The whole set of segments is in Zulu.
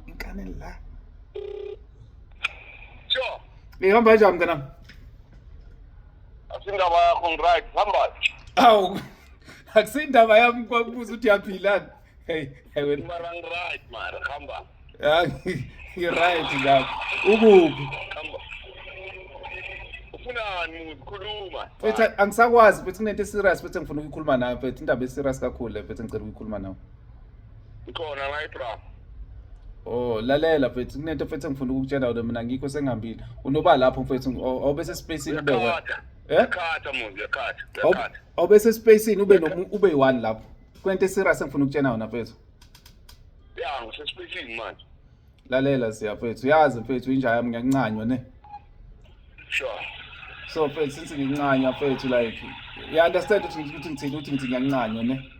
Ngane la. Sure. Ihamba kanjani mntanami? Asindaba yakho ngiright, hamba. Awu. Akusindaba yami kwakubuza ukuthi yaphilani. Hey, hey wena. Mara ngiright mara, hamba. Ah, ngiright lapho. Ukuphi? Hamba. Ufunani muzi khuluma. Mfethu angisakwazi mfethu kunento eserious mfethu engifuna ukuyikhuluma nawe mfethu indaba eserious kakhulu le mfethu engicela ukuyikhuluma nawe. Ngikhona la eBra. Oh lalela mfethu kunento mfethu engifuna ukukutshela wena mina ngikho sengihambile. Unoba lapho mfethu awube sespaceini ube wena. Eh? Yakhatha muzi yakhatha. Yakhatha. Awube sespaceini ube no ube yi-one lapho. Kwente serious engifuna ukutshela wena mfethu. Ya ngisespaceini manje. Lalela siya mfethu uyazi mfethu inja yami ngiyancanywa ne. Sure. So mfethu since ngincanywa mfethu like you understand ukuthi ngithini ukuthi ngithini ngiyancanywa ne.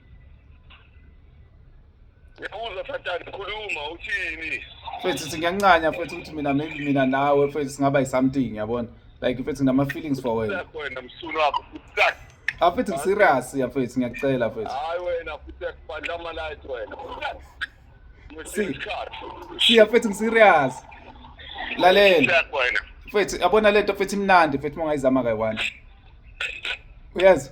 Ngiyabuza Sathane khuluma uthini? Mfethu sithi ngiyancanya mfethu ukuthi mina maybe mina nawe mfethu singaba something yabona. Like mfethu nginama feelings for wena. Wena msunu wakho futak. Ah mfethu ngiserious ya mfethu ngiyakucela mfethu. Hayi wena futak bandla ama light wena. Si. Si ya mfethu ngiserious. Lalela. Mfethu yabona lento mfethu imnandi mfethu mongayizama kayi-one. Uyazi?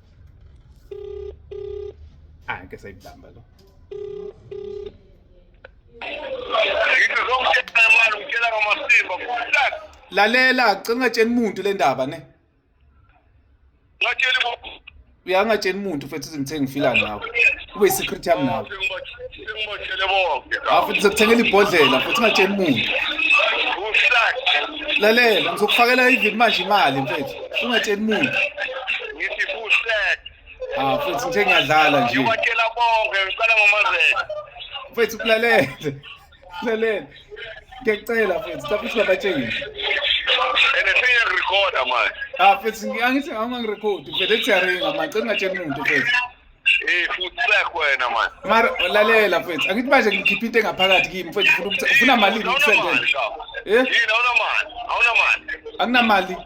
Ah, ngeke sayibamba lo. Lalela, cela ungatsheni umuntu le ndaba ne. Ngatshela uyangatsheni umuntu futhi izingithe ngifila nawe. Ube secret yami nawe. Singibotshele bonke. Ah futhi zokuthengela ibhodlela futhi ungatsheli umuntu. Uhlakhe. Lalela ngizokufakela even manje imali mfethu. Ungatsheli umuntu. Ngithi uhlakhe. Ah futhi nje ngiyadlala nje. Ngibatshela bonke ngiqala ngomazela. Mfethu kulalela. Lalela. Ngiyacela mfethu, lapho singabatsheli. Ene senya recorder manje. Ah futhi ngiyangithi angangirecord. Mfethu ethi yaringa manje, ngingacela umuntu mfethu. Eh futhi sekho wena manje. Mara lalela mfethu, angithi manje ngikhipha into engaphakathi kimi mfethu ufuna ukuthi ufuna mali ngikusendele. Eh? Yini awunamali? Awunamali. Anginamali.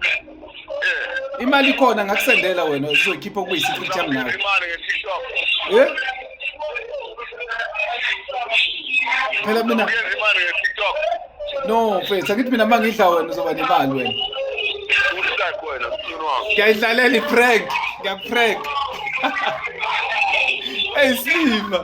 Eh. Imali khona ngakusendela wena uzoyikhipha kube yi-secret yami nawe. Imali nge-TikTok. Eh? Phela mina. Imali nge-TikTok. No, mfethu, angithi mina mangidla wena uzoba nemali wena. Uhlak wena mfunu wami. Ngiyayidlalela i-prank, ngiyakuprank. Hey Slima.